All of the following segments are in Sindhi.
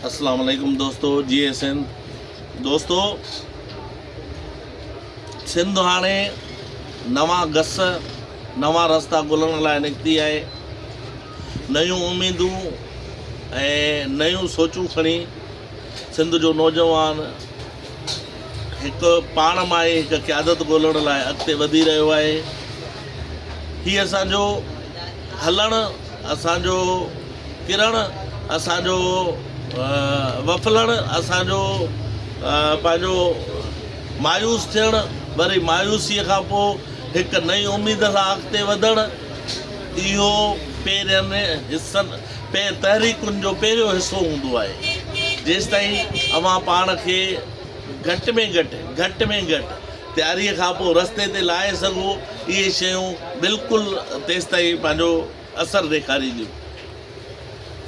اسلام عليڪم دوستو جي اي سنڌ دوستو سنڌ هاڻي نوان گس نوان رستا ڳولڻ لاء نڪتي آهي نيون اميدون ۽ نيون سوچون کڻي سنڌ جو نوجوان هڪ پاڻ مان ئي هڪ قيادت ڳولڻ لاء اڳتي وڌي رهيو آهي هي اسان جو هلڻ اسان جو ڪرڻ اسان جو وڦلڻ اسان جو پنهنجو مايوس ٿيڻ وري مايوسيء کان پوء هڪ نئين اميد سان اڳتي وڌڻ اهو پهرين حصن پي تحريڪن جو پهريون حصو هوندو آهي جيستائين اوهان پاڻ کي گهٽ ۾ گهٽ گهٽ ۾ گهٽ تياري کان پوء رستي تي لاهي سگهو اهي شيون بلڪل تيستائين پنهنجو اثر ڏيکارينديون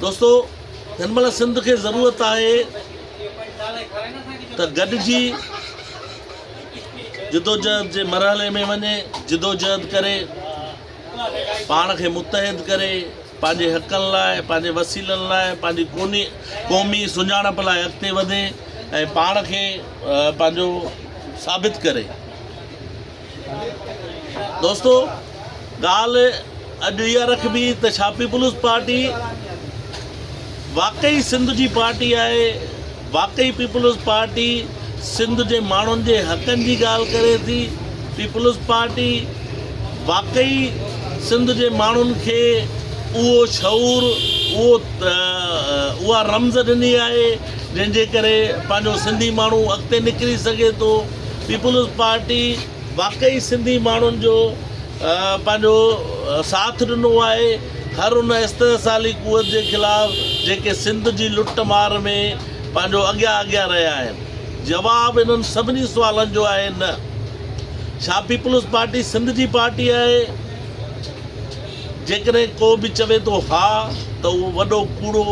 دوستو هن مهل سنڌ کي ضرورت آهي ته گڏجي جدوجهد جي مرحلي ۾ وڃي جدوجهد ڪري پاڻ کي متحد ڪري، پنهنجي حقن لاء، پنهنجي وسيلن لاء، پنهنجي ڪوني قومي سڃاڻپ لاء اڳتي وڌي ۽ پاڻ کي پنهنجو ثابت ڪري. دوستو ڳالهه اڄ اها رکبي ته ڇا پيپلز پارٽي واقعي سنڌ جي پارٽي آهي واقعي پيپلز پارٽي سنڌ جي ماڻهن جي حقن جي ڳالهه ڪري ٿي، پيپلز پارٽي واقعي سنڌ جي ماڻهن کي اهو شعور اها رمز ڏني آهي جنهن جي ڪري پنهنجو سنڌي ماڻهو اڳتي نڪري سگهي ٿو، پيپلز پارٽي واقعي سنڌي ماڻهن جو پنهنجو ساٿ ڏنو آهي هر ان استحصالي قوت جي خلاف جيڪي سنڌ جي لٽ مار ۾ پنهنجو اڳيان اڳيان رهيا آهن جواب انهن سڀني سوالن جو آهي نه ڇا پيپلز پارٽي سنڌ جي پارٽي آهي جيڪڏهن ڪو به چوي ٿو ها ته اهو وڏو ڪوڙو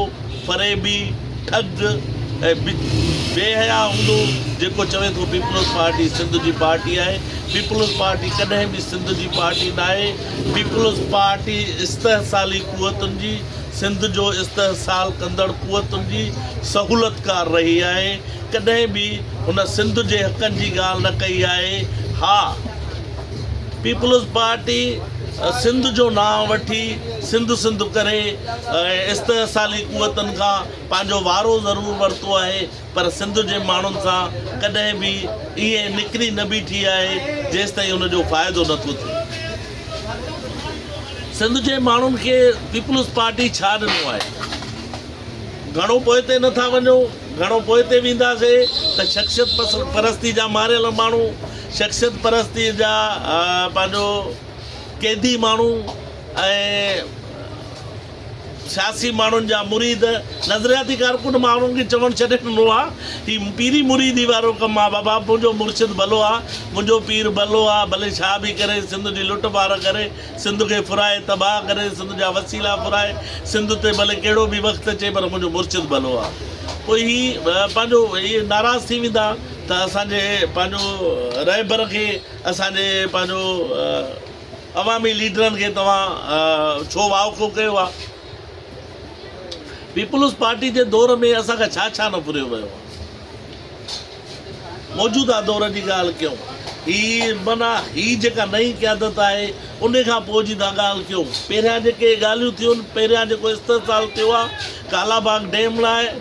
فريبي، ٺڳ ۽ بي حياء هوندو جيڪو چوي ٿو پيپلز پارٽي سنڌ جي پارٽي آهي، پيپلز پارٽي ڪڏهن به سنڌ جي پارٽي ناهي، پيپلز پارٽي استحصالي قوتن جي، سنڌ جو استحصال ڪندڙ قوتن جي سهولتڪار رهي آهي، ڪڏهن به هن سنڌ جي حقن جي ڳالهه نه ڪئي آهي، ها! پيپلز پارٽي سنڌ جو نانء وٺي سنڌ سنڌ ڪري ۽ استحصالي قوتن کان پنهنجو وارو ضرور ورتو آهي پر سنڌ جي ماڻهن سان ڪڏهن به ائين نڪري نه بيٺي آهي جيستائين ان جو فائدو نه ٿو ٿئي. سنڌ جي ماڻهن کي پيپلز پارٽي ڇا ڏنو آهي؟ گهڻو پوئتي نه ٿا وڃو، گهڻو پوئتي وينداسين ته شخصيت پرستي جا ماريل ماڻهو، شخصيت پرستيء جا پنهنجو قيدي ماڻهو ۽ سياسي ماڻهن جا مريد نظرياتي ڪارڪن ماڻهن کي چوڻ ڇڏي ڏنو آ هي پيري مريدي وارو ڪم آ بابا منهنجو مرشد ڀلو آ منهنجو پير ڀلو آ ڀلي ڇا به ڪري سنڌ جي لٽ مار ڪري سنڌ کي ڦرائي تباهه ڪري سنڌ جا وسيلا ڦرائي سنڌ تي ڀلي ڪهڙو به وقت اچي پر منهنجو مرشد ڀلو آ پوء هي پنهنجو ناراض ٿي ويندا ته اسان جي پنهنجو رهبر کي اسان جي پنهنجو عوامي ليڊرن کي توهان ڇو وائکو ڪيو آ پيپلز پارٽي جي دور ۾ اسان کان ڇا ڇا نه ڦريو ويو آ موجوده دور جي ڳالهه ڪيون هي منا هي جيڪا نئين قيادت آهي ان کان پوء جي ٿا ڳالهه ڪيون پهريان جيڪي ڳالهيون ٿيون پهريان جيڪو استحصال ٿيو آ ڪالا باغ ڊيم لاء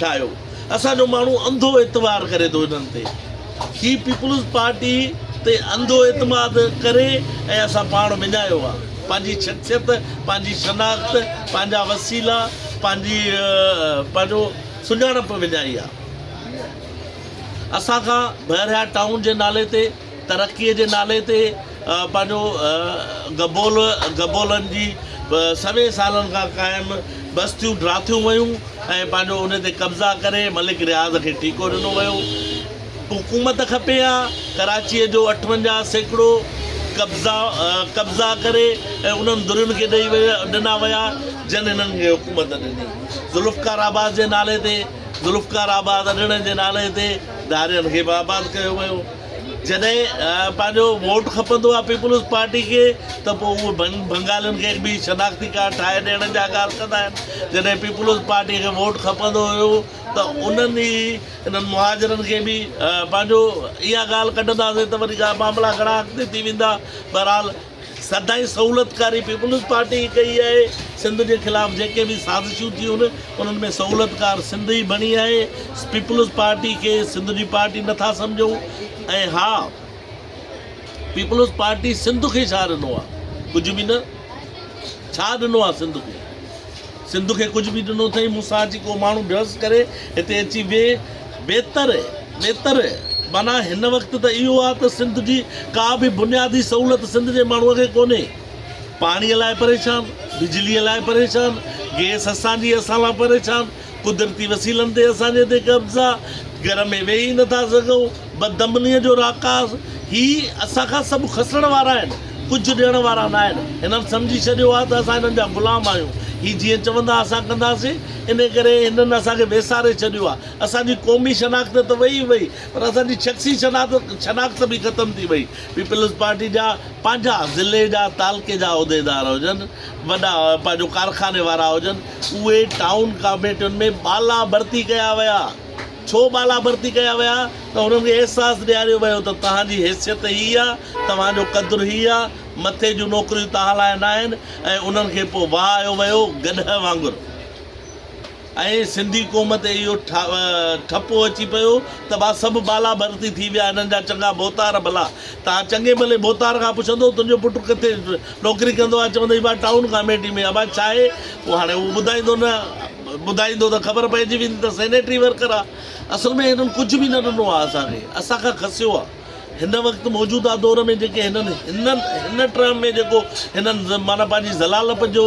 ٺاهيو اسان جو ماڻهو انڌو اعتبار ڪري ٿو انهن تي هي پيپلز پارٽي تي انڌو اعتماد ڪري ۽ اسان پاڻ وڃايو آ پنهنجي شخصيت پنهنجي شناخت پنهنجا وسيلا پنهنجي پنهنجو سڃاڻپ وڃائي آ اسان کان بحريا ٽائون جي نالي تي ترقيء جي نالي تي پنهنجو گبول گبولن جي سوين سالن کان قائم بستيون ڊاٿيون ويون ۽ پنهنجو ان تي قبضا ڪري ملڪ رياض کي ٺيڪو ڏنو ويو. حڪومت کپي ها ڪراچيء جو اٺونجاهه سيڪڙو قبضا قبضا ڪري ۽ انهن درين کي ڏئي ڏنا ويا جن هنن کي حڪومت ڏني. ذوالفقار آباد جي نالي تي ذوالفقار آباد اڏڻ جي نالي تي ڌارين کي به آباد ڪيو ويو. جڏهن پنهنجو ووٽ کپندو آهي پيپلز پارٽي کي ته پوء اهي بنگالين کي هڪ ٻي شناختي ڪارڊ ٺاهي ڏيڻ جا اڳاڙ ڪندا آهن. جڏهن پيپلز پارٽي کي ووٽ کپندو هيو ته انهن ئي انهن مهاجرن کي به پنهنجو اها ڳالهه ڪڍنداسين ته وري معاملا گهڻا اڳتي ٿي ويندا. بهرحال سدائين سهولتڪاري پيپلز پارٽي ئي ڪئي آهي، سنڌ جي خلاف جيڪي به سازشون ٿيون انهن ۾ سهولتڪار سنڌ ئي بڻي آهي، پيپلز پارٽي کي سنڌ جي پارٽي نه ٿا سمجهون ۽ ها پيپلز پارٽي سنڌ کي ڇا ڏنو آهي، ڪجهه به نه، ڇا ڏنو آهي سنڌ کي. سنڌ کي ڪجهه به ڏنو اٿئي، مون سان اچي ڪو ماڻهو بحث ڪري، هتي اچي ويهه، بهتر، بيتر، معنيٰ هن وقت ته اهو آ ته سنڌ جي ڪا به بنيادي سهولت سنڌ جي ماڻهوء کي ڪونهي، پاڻيء لاء پريشان، بجليء لاء پريشان، گئس اسان جي اسان لاء پريشان، قدرتي وسيلن تي اسان جي هتي قبضا، گهر ۾ ويهي ئي نٿا سگهون. بدعمليء جو راڪاس، هي اسان کان سڀ کسڻ وارا آهن، ڪجهه ڏيڻ وارا ناهن. هنن سمجهي ڇڏيو آهي ته اسان هنن جا غلام آهيون. هي جيئن چوندا اسان ڪنداسين. انهيء ڪري هنن اسان کي ويساري ڇڏيو آهي. اسان جي قومي شناخت ته ويئي ئي ويئي، پر اسان جي شخصي شناخت به ختم ٿي ويئي. پيپلز پارٽي جا پنهنجا ضلعي جا، تعلقي جا عهديدار هجن، وڏا پنهنجو ڪارخاني وارا هجن، اهي ٽائون ڪاميٽين ۾ بالابرتي ڪيا ويا. ڇو بالا ڀرتي ڪيا ويا ته هنن کي احساس ڏياريو ويو ته توهان جي حيثيت هي آ، توهان جو قدر هي آ، مٿي جون نوڪريون توهان لاء ناهن ۽ انهن کي پوء وهايو ويو گڏهه وانگر ۽ سنڌي قوم تي اهو ٺپو اچي پيو ته ڀا سڀ بالا ڀرتي ٿي ويا هنن جا چڱا ڀوتار ڀلا توهان چڱي ڀلي ڀوتار کان پڇندو تنهنجو پٽ ڪٿي نوڪري ڪندو آ چوندئي ڀا ٽائون ڪاميٽي ۾ آ ڀا ڇاهي پوء هاڻي اهو ٻڌائيندو نه ٻڌائيندو ته خبر پئجي ويندي ته سينيٽري ورڪر آ اصل ۾ هنن ڪجهه به نه ڏنو آ اسان کي اسان کان کسيو آ هن وقت موجوده دور ۾ جيڪي هنن هنن هن ٽرم ۾ جيڪو هنن معنيٰ پنهنجي ذلالپ جو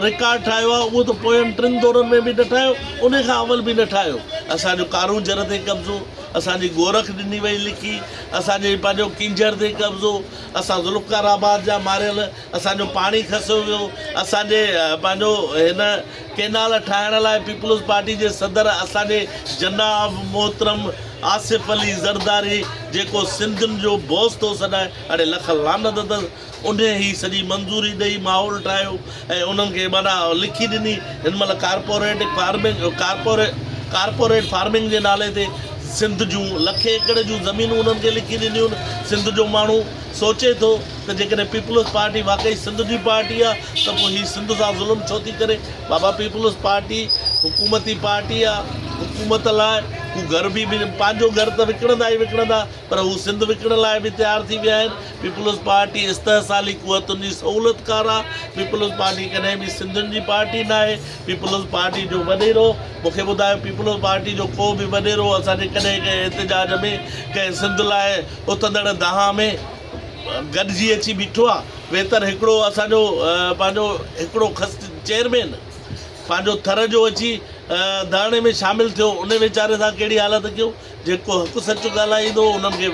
رڪارڊ ٺاهيو آ اهو ته پوين ٽن دورن ۾ به نه ٺاهيو انهي کان اول به نه ٺاهيو اسان جو ڪارون جهر تي قبضو اسان جي گورک ڏني وئي لکي اسان جي پنهنجو ڪينجهر تي قبضو اسان ذوالفقار آباد جا ماريل اسان جو پاڻي کسيو ويو، اسان جي پنهنجو هن ڪينال ٺاهڻ لاء پيپلز پارٽي جي صدر اسان جي جناب محترم آصف علي زرداري جيڪو سنڌين جو بوس ٿو سڏائي اڙي لک لعنت اٿس انهي هي سڄي منظوري ڏئي ماحول ٺاهيو ۽ انهن کي معنيٰ لکي ڏني هن مهل ڪارپوريٽ فارمنگ ڪارپوريٽ فارمنگ جي نالي تي سنڌ جون لکين ايڪڙ جون زمينون انهن کي لکي ڏنيون سنڌ جو ماڻهو سوچي ٿو ته جيڪڏهن پيپلز پارٽي واقعي سنڌ جي پارٽي آ ته پوء هي سنڌ سان ظلم ڇو ٿي ڪري بابا پيپلز پارٽي حڪومتي پارٽي آ حڪومت لاء هو گهر به پنهنجو گهر ته وڪڻندا ئي وڪڻندا پر هو سنڌ وڪڻڻ لاء به تيار ٿي ويا آهن پيپلز پارٽي استحصالي قوتن جي سهولت ڪار آ پيپلز پارٽي ڪڏهن به سنڌين جي پارٽي ناهي پيپلز پارٽي جو وڏيرو مونکي ٻڌايو پيپلز پارٽي جو ڪو به وڏيرو اسان جي ڪڏهن ڪنهن احتجاج ۾ ڪنهن سنڌ لاء اٿندڙ دانهن ۾ گڏجي اچي بيٺو آ ويتر هڪڙو اسان جو پنهنجو هڪڙو خست چيئرمين پنهنجو ٿر جو اچي ڌرڻي ۾ شامل ٿيو ان ويچاري سان ڪهڙي حالت ڪيون جيڪو حق سچ ڳالهائيندو انهن کي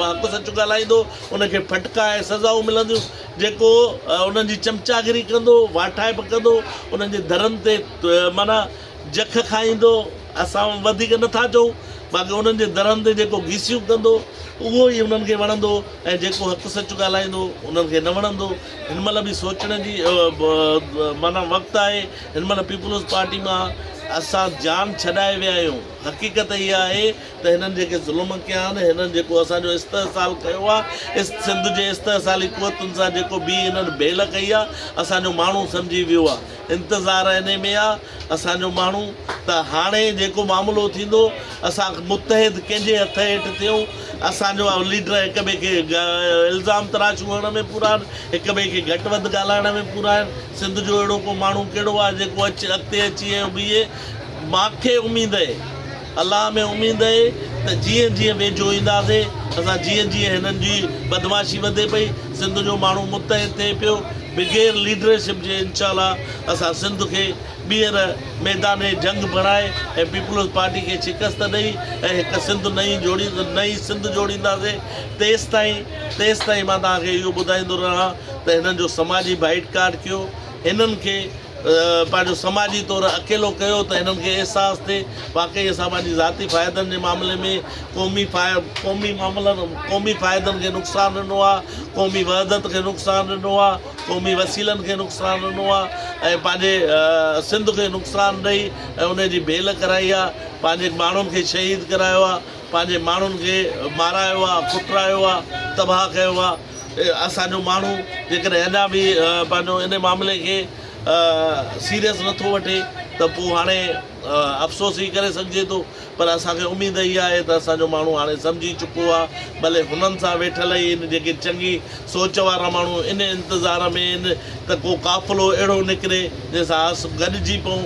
حق سچ ڳالهائيندو ان کي ڦٽڪا ۽ سزائون ملنديون جيڪو انهن جي چمچاگري ڪندو واٺائپ ڪندو انهن جي ڌرن تي معنيٰ جک کائيندو، اسان وڌيڪ نه ٿا چئون، باقي انهن جي درن تي جيڪو گيسيون ڪندو، اهو ئي انهن کي وڻندو ۽ جيڪو حق سچ ڳالهائيندو، انهن کي نه وڻندو. هن مهل به سوچڻ جي معنيٰ وقت آهي. هن مهل پيپلز پارٽي مان اسان جان ڇڏائي ويا آهيون. حقيقت اها آهي ته هنن جيڪي ظلم ڪيا آهن، هنن جيڪو اسان جو استحصال ڪيو آهي، سنڌ جي استحصالي قوتن سان جيڪو بي هنن ڀيل ڪئي آهي، اسان جو ماڻهو سمجهي ويو آهي. انتظار انهي ۾ آ اسان جو ماڻهو ته هاڻي جيڪو معاملو ٿيندو اسان متحد ڪنهن جي هٿ هيٺ ٿيون اسان جو ليڊر هڪ ٻئي کي الزام تراشون هڻڻ ۾ پورا آهن هڪ ٻئي کي گهٽ وڌ ڳالهائڻ ۾ پورا آهن سنڌ جو اهڙو ڪو ماڻهو ڪهڙو آهي جيڪو اچ اڳتي اچي ۽ بيهي ماکي اميد اهي الله ۾ اميد اهي ته جيئن جيئن ويجهو اينداسي اسان جيئن جيئن هنن جي بدمعاشي وڌي پئي سنڌ جو ماڻهو متحد ٿئي پيو بغير ليڊرشپ جي انشاء الله اسان سنڌ کي ٻيهر ميدان جنگ بڻائي ۽ پيپلز پارٽي کي شڪست ڏئي ۽ هڪ سنڌ نئين جوڙي نئين سنڌ جوڙينداسي تيستائين تيستائين مان توهان کي اهو ٻڌائيندو رهان ته هنن جو سماجي بائيٽ ڪاٽ ڪيو هنن کي پنهنجو سماجي طور اڪيلو ڪيو ته هنن کي احساس ٿئي واقعي اسان پنهنجي ذاتي فائدن جي معاملي ۾ قومي قومي معاملن قومي فائدن کي نقصان ڏنو آهي قومي وحدت کي نقصان ڏنو آهي قومي وسيلن کي نقصان ڏنو آهي ۽ پنهنجي سنڌ کي نقصان ڏئي ۽ ان جي ڀيل ڪرائي آهي پنهنجي ماڻهن کي شهيد ڪرايو آهي پنهنجي ماڻهن کي مارايو آهي ڪٽرايو آهي تباهه ڪيو آهي اسان جو ماڻهو جيڪڏهن اڃا به پنهنجو ان معاملي کي سيريس نٿو وٺي ته پوء هاڻي افسوس ئي ڪري سگهجي ٿو پر اسان کي اميد اها آهي ته اسان جو ماڻهو هاڻي سمجهي چڪو آهي ڀلي هنن سان ويٺل اهي ان جيڪي چڱي سوچ وارا ماڻهو ان انتظار ۾ آهن ته ڪو قافلو اهڙو نڪري جنهن سان اس گڏجي پئون